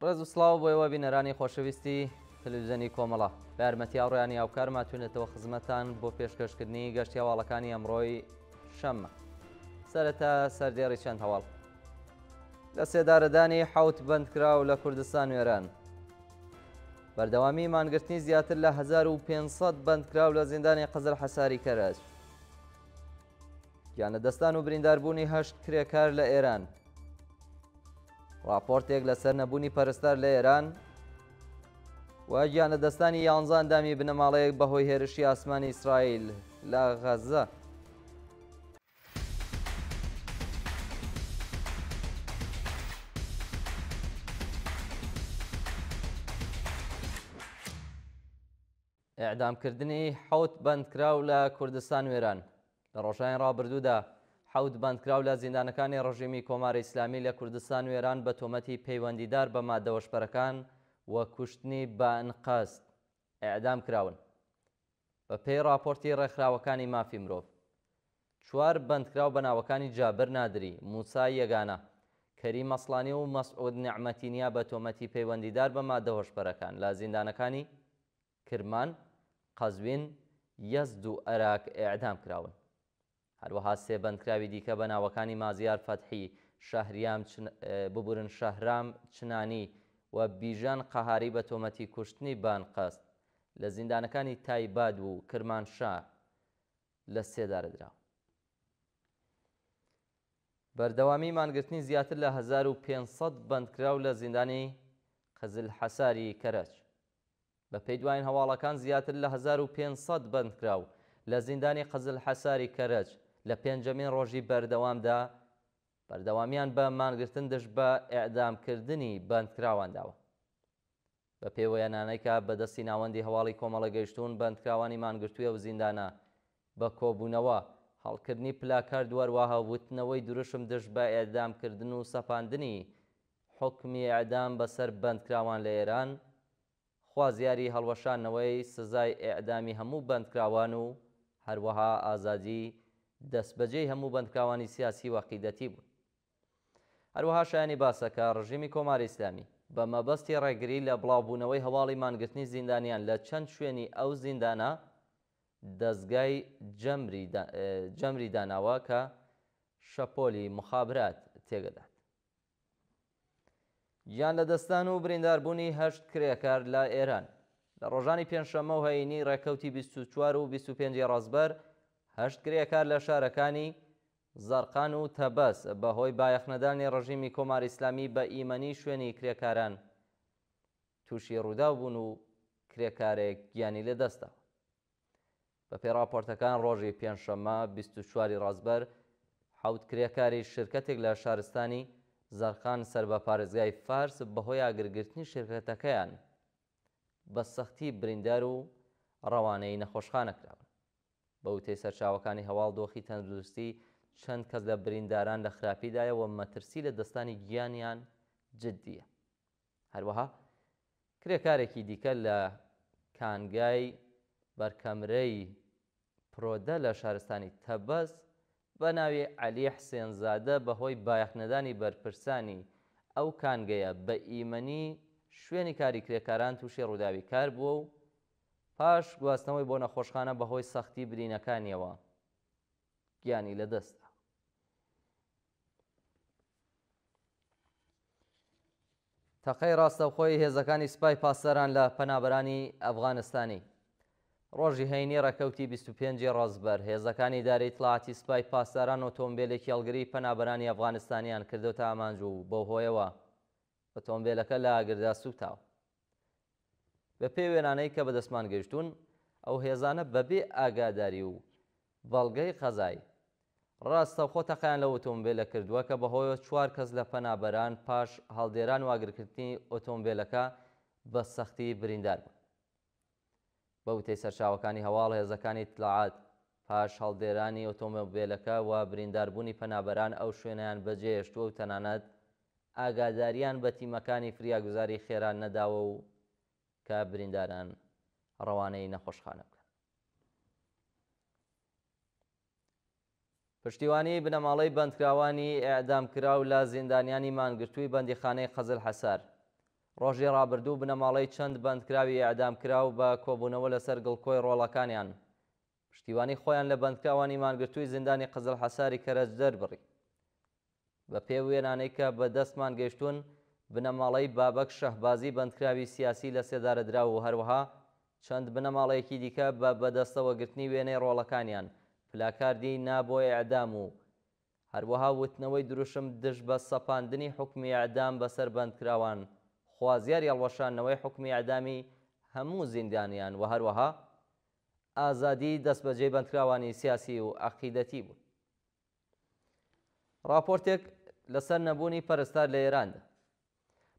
ڕێز و سلااو بۆ ئێوە بینەرانی خۆشەویستی تەلویزیۆنی کۆمەڵە بە یارمەتی هاوڕیانی هاوکارما توێنێتەوە خزمەتان بۆ پێشکەشکردنی گەشتی هەواڵەکانی ئەمڕۆی شەممە سەرەتا سەردێڕی چەند هەواڵ لەسێدارەدانی حەوت بەندکراو لە کوردستان و ئێران. بەردەوامی مانگرتنی زیاتر لە 1500 بەندکراو لە زیندانی قزل حەساری کەرەج. گیانە دەستان و برینداربوونی هەشت کرێکار لە ئێران. راپۆرتێک لەسەر نەبوونی پەرستار لە ئێران و گیانە دەستانی یانزان دامی بنەماڵەیەک بەهۆی هێرشی ئاسمانی ئیسرائیل لە غەزە. ئێعدامکردنی حەوت بەندکراو لە کوردستان وێران لە ڕۆژانی ڕابردوودا حەوت بەندکراو لە زیندانەکانی ڕژیمی کۆماری ئیسلامی لە کوردستان وێران بە تۆمەتی پەیوەندیدار بە مادەوەشپەرەکان و کوشتنی بە ئەنقەست ئێعدام کراون. بە پێی ڕاپۆرتی ڕێکخراوەکانی مافی مرۆڤ، چوار بەندکراو بە ناوەکانی جابر نادری، موسا یەگانە، کەریم ئەسڵانی و مەسعود نێعمەتی نیا بە تۆمەتی پەیوەندیدار بە ماددە هۆشبەرەکان لە زیندانەکانی کرمان، قەزوین، یەزد و ئەراک ئێعدام کراون. هەروەها سێ بەندکراوی دیکە بە ناوەکانی مازیار فەتحی، شەهریام ببورن شەهرام چنانی و بیژەن قەهاری بە تۆمەتی کوشتنی بە ئەنقەست لە زیندانەکانی تایباد و کرمانشا لە سێدارە دراون. بەردەوامی مانگرتنی زیاتر لە هەزار و پێنج سەد بەندکراو لە زیندانی قزلحەساری کەرەج. بەپێی دواین هەواڵەکان زیاتر لە هەزار و پێنج سەد بەندکراو لە زیندانی قزلحەساری کەرەج لە پێنجەمین ڕۆژی بەردەوامدا بەردەوامیان بە مانگرتن دژ بە ئێعدامکردنی بەندکراوان داوە. بەپێی وێنانەی کە بە دەستی ناوەندی هەواڵی کۆمەڵە گەیشتوون بەندکراوانی مانگرتووی ئەو زیندانە بە کۆبوونەوە، هەڵکردنی پلاکارد وەروەها وتنەوەی دروشم دژ بە ئێعدامکردن و سەپاندنی حوکمی ئێعدام بەسەر بەندکراوان لە ئێران خوازیاری هەڵوەشاندنەوەی سزای ئێعدامی هەموو بەندکراوان و هەروەها ئازادی دەستبەجێی هەموو بەندکراوانی سیاسی و عەقیدەتی بوون. هەروەها شایانی باسە کە ڕژیمی کۆماری ئیسلامی بە مەبەستی ڕێگری لە بڵاوبوونەوەی هەواڵی مانگرتنی زیندانیان لە چەند شوێنی ئەو زیندانە دەزگای جەمری داناوە کە شەپۆلی موخابرات تێگەدات. گیان لەدەستدان و برینداربوونی هەشت کرێکار لە ئێران. لە ڕۆژانی پێنجشەممە و هەینی ڕێکەوتی بیست و چوار و بیست و پێنج ی ڕەزبەر، هەشت کرێکار لە شارەکانی، زەرقان و تەبەس، بە هۆی بایەخنەدانی ڕژیمی کۆماری ئیسلامی بە ئیمەنی شوێنی کرێکاران تووشی ڕووداو بوون و کرێکارێک گیانی لەدەستداوە. بەپێی ڕاپۆرتەکان ڕۆژی پێنجشەممە بیست و چوار ی ڕەزبەر حەوت کرێکاری شرکەتێک لە شارستانی زەرقان سەر بە پارێزگای فارس بەهۆی ئاگرگرتنی شرکەتەکەیان بە سەختی بریندار و ڕەوانەی نەخۆشخانە کراون. بە وتەی سەرچاوەکانی هەواڵ دۆخی تەندروستی چەند کەس لە برینداران لە خراپیدایە و مەترسی لە دەستانی گیانیان جدییە. هەروەها کرێکارێکی دیکە لە کانگای بەرکەمرەی پرۆدە لە شارستانی تەبەز بە ناوی عەلی حسێن زادە بە هۆی بایەخ نەدانی بەرپرسانی ئەو کانگەیە بە ئیمەنی شوێنی کاری کرێکاران تووشی ڕووداوی کار بووە و پاش گواستنەوەی بۆ نەخۆشخانە بە هۆی سەختی برینەکانیەوە گیانی لە دەست دا. تەقەی ڕاستەوخۆی هێزەکانی سپای پاسداران لە پەنابەرانی ئەفغانستانی ڕۆژی هەینی ڕێکەوتی 25 ڕزبەر هێزەکانی داری ئیتلاعاتی سپای پاسداران ئۆتۆمبیلێکی هەڵگری پەنابەرانی ئەفغانستانیان کردوتە ئامانج و بەو هۆیەوە ئۆتۆمبیلەکە لە ئاگردا سووتاوە بەپێی وێنانەی کە بەدەستمان گەیشتوون، ئەو هێزانە بەبێ ئاگاداری و بەڵگەی قەزایی، ڕاستەوخۆ تەقەیان لەو ئۆتۆمبێلە کردووە کە بەهۆیەوە چوار کەس لە پەنابەران پاش هەڵدێران و ئاگرکردنی ئۆتۆمبێلەکە بە سەختی بریندار بوون. بە وتەی سەرچاوەکانی هەواڵ، هێزەکانی ئیتلاعات پاش هەڵدێرانی ئۆتۆمۆبێلەکە و برینداربوونی پەنابەران ئەو شوێنەیان بەجێهێشتووە و تەنانەت ئاگاداریان بە تیمەکانی فریاگوزاری خێرا نەداوە و کە برینداران ڕەوانەی نەخۆشخانە بکەن. پشتیوانی بنەماڵەی بەندکراوانی ئێعدامکراو لە زیندانیانی مانگرتووی بەندیخانەی قزل حەسار ڕۆژی ڕابردوو بنەماڵەی چەند بەندکراوی ئێعدامکراو بە کۆبوونەوە لەسەر گڵکۆی ڕۆڵەکانیان پشتیوانی خۆیان لە بەندکراوانی مانگرتووی زیندانی قزل حەساری کەرەج دەربڕی. بە پێی وێنانەی کە بە دەستمان گەیشتوون، بنەماڵەی بابەک شەهبازی بەندکراوی سیاسی لە سێدارەدراو و هەروەها چەند بنەماڵەیەکی دیکە بە بەدەستەوە گرتنی وێنەی ڕۆڵەکانیان، پلاکاردی نا بۆ ئێعدام و هەروەها وتنەوەی دروشم دژ بە سەپاندنی حوکمی ئێعدام بەسەر بەندکراوان، خوازیاری هەڵوەشاندنەوەی حوکمی ئێعدامی هەموو زیندانیان و هەروەها ئازادیی دەستبەجێی بەندکراوانی سیاسی و عەقیدەتی بوون. ڕاپۆرتێک لەسەر نەبوونی پەرستار لە ئێراندا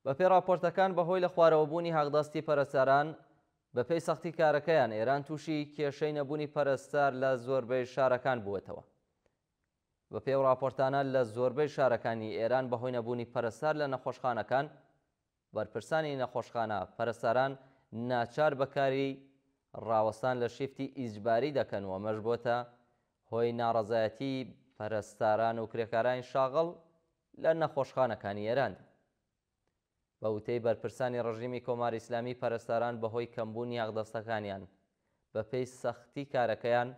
بەپێی ڕاپۆرتەکان بەهۆی لە خوارەوەبوونی حەقدەستی پەرستاران بەپێی سەختی کارەکەیان ئێران تووشی کێشەی نەبوونی پەرستار لە زۆربەی شارەکان بووەتەوە بە پێو ڕاپۆرتانە لە زۆربەی شارەکانی ئێران بەهۆی نەبوونی پەرستار لە نەخۆشخانەکان بەرپرسانی نەخۆشخانە، پەرستاران ناچار بە کاری ڕاوەستان لە شیفتی ئیجباری دەکەن و ئەمەش بۆتە هۆی ناڕەزایەتی پەرستاران و کرێکارانی شاغڵ لە نەخۆشخانەکانی ئێراندا. بە وتەی بەرپرسانی ڕژیمی کۆماری ئیسلامی پەرستاران بە هۆی کەمبوونی یاغدەستەکانیان بە پێی سەختی کارەکەیان،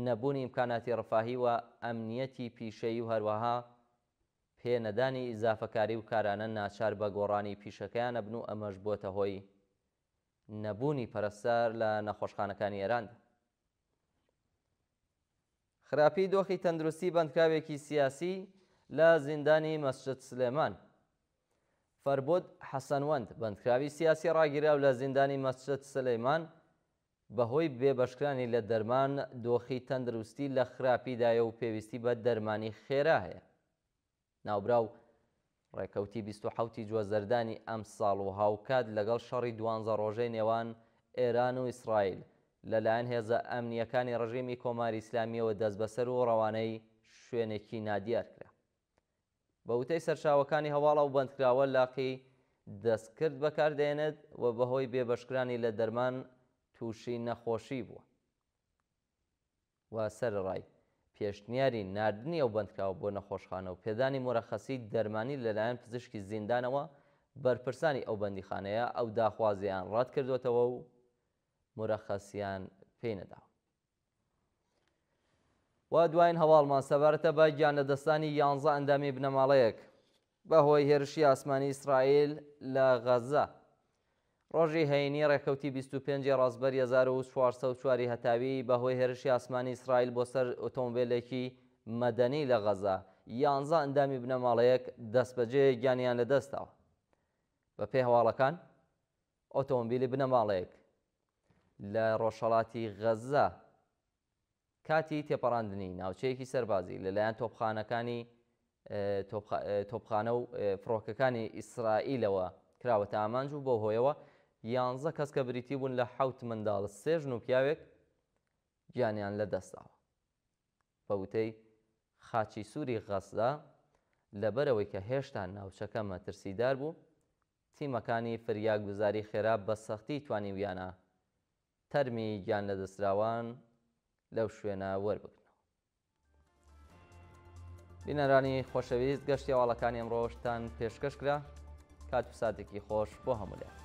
نەبوونی ئیمکاناتی ڕفاهی و ئەمنیەتی پیشەیی و هەروەها، پێ نەدانی ئیزافەکاری و کارانە ناچار بە گۆڕانی پیشەکەیان ئەبن و ئەمەش بۆتە هۆی نەبوونی پەرستار لە نەخۆشخانەکانی ئێراندا. خراپی دۆخی تەندروستی بەندکراوێکی سیاسی لە زیندانی مەسجد سلێمان. فەربود حەسەنوەند، بەندکراوی سیاسی ڕاگیراو لە زیندانی مەسجد سلیمان بەهۆی بێبەشکرانی لە دەرمان، دۆخی تەندروستی لە خراپیدایە و پێویستی بە دەرمانی خێرا هەیە. ناوبراو ڕێکەوتی بیست و حەوتی جوەزەردانی ئەمساڵ و هاوکات لەگەڵ شەڕی دوانزە ڕۆژەی نێوان ئێران و ئیسرائیل لەلایەن هێزە ئەمنییەکانی ڕژیمی کۆماری ئیسلامییەوە دەستبەسەر و ڕەوانەی شوێنێکی نادیار کرا بە وتەی سەرچاوەکانی هەواڵ ئەو بەندکراوە لاقی دەستکرد بەکاردەێنێت و بەهۆی بێبەشکرانی لە دەرمان تووشی نەخۆشی بووە و سەرەڕای پێشنیاری ناردنی ئەو بەندکراوە بۆ نەخۆشخانە و پێدانی مورەخەسی دەرمانی لەلایەن پزیشکی زیندانەوە، بەرپرسانی ئەو بەندیخانەیە ئەو داخوازییەیان ڕەتکردووەتەوە و مورەخەسیان پێی نەداوە. و دوایین هەواڵمان سەبارەتە بە گیانلەدەستدانی یانزە ئەندامی بنەماڵەیەک بەهۆی هێرشی ئاسمانی ئیسرائیل لە غەزە ڕۆژی هەینی ڕێکەوتی 25 ڕاستبەر 1404 هەتاوی بەهۆی هێرشی ئاسمانی ئیسرائیل بۆ سەر ئۆتۆمبیلێکی مەدەنی لە غەزە یانزە ئەندامی بنەماڵەیەک دەستبەجێ گیانیان لەدەستداوە بەپێی هەواڵەکان ئۆتۆمبیلی بنەماڵەیەک لە ڕۆژهەڵاتی غەززە کاتی تێپەڕاندنی ناوچەیەکی سەربازی لەلایەن تۆپخانەکانی تۆپخانە و فڕۆکەکانی ئیسرائیلەوە کراوەتە ئامانج و بەو هۆیەوە یانزە کەس کە بریتی بوون لە حەوت منداڵ سێژن و پیاوێک گیانیان لەدەستداوە. بە وتەی خاچی سووری غەززە، لەبەرئەوەی کە هێشتا ناوچەکە مەترسیدار بوو، تیمەکانی فریاگوزاری خێرا بە سەختی توانیویانە تەرمی گیانلەدەستراوان لەو شوێنە وەربگرنەوە. بینەرانی خۆشەویست، گەشتی هەواڵەکانی ئەمڕۆشتان پێشکەش کرا، کات و ساتێکی خۆش بۆ هەموولایەک.